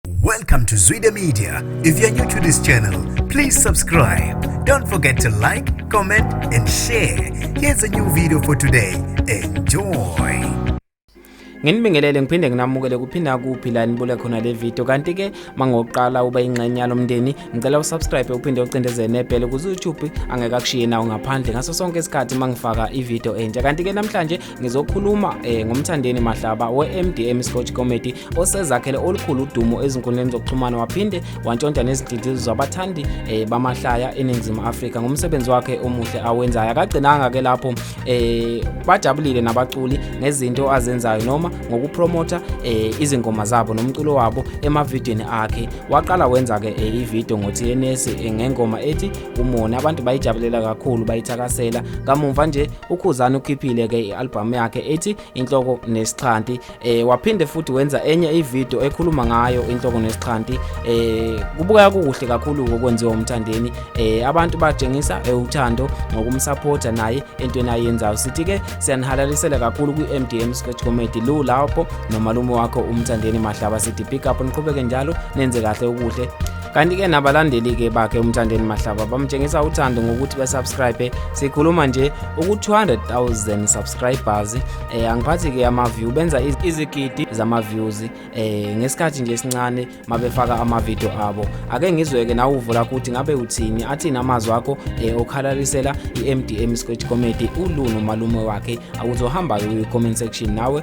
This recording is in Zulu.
Welcome to Zwide Media. If you're new to this channel, please subscribe. Don't forget to like, comment and share. Here's a new video for today. Enjoy. Nginibingelele ngiphinde nginamukele kuphinda kuphi la nibule khona le video kanti ke mangoqala uba ingxenye yalomndeni ngicela usubscribe uphinde ucindezele nebhele ku YouTube angeke akushiye nawo ngaphandle ngaso sonke isikhathi mangifaka i video entsha kanti ke namhlanje ngizokhuluma eh, ngomthandeni mahlaba we-mdm sports committee osezakhele olukhulu udumo ezinkundleni zokuxhumana waphinde wantshontsha nezinhliziyo zabathandi eh, bamahlaya eningizimu afrika ngomsebenzi wakhe omuhle awenzayo akagcinanga-ke lapho eh, bajabulile nabaculi ngezinto azenzayo noma ngokupromotha eh, izingoma zabo nomculo wabo emavidiyweni akhe waqala wenza-ke eh, ividiyo ngo-tns eh, ngengoma ethi umona abantu bayijabulela kakhulu bayithakasela kamumva nje ukhuzani ukhiphile ke i-albhamu yakhe ethi inhloko nesixhanti eh waphinde futhi wenza enye ivideo ekhuluma ngayo inhloko nesixhanti eh kubukeka kukuhle kakhulu kokwenziwa umthandeni eh abantu batshengisa eh, uthando ngokumsupporta naye entweni ayenzayo sithi ke siyanihalalisela kakhulu kwi-MDM Sketch Comedy lu lapho nomalume wakho umthandeni mahlaba sithi pick up niqhubeke njalo nenze kahle ukuhle kanti-ke nabalandeli-ke bakhe umthandeni mahlaba bamtshengisa uthando ngokuthi basubscribe sikhuluma nje uku-200000 subscribers um eh, angiphathi-ke ama-view benza izigidi zama-views um eh, ngesikhathi nje esincane mabefaka amavidiyo abo ake ngizweke nawe uvula kuthi ngabe uthini athini amazwi akho um eh, okhalalisela i-mdm scratch comedy uluno malume wakhe awuzohamba-ke uyi-comment section nawe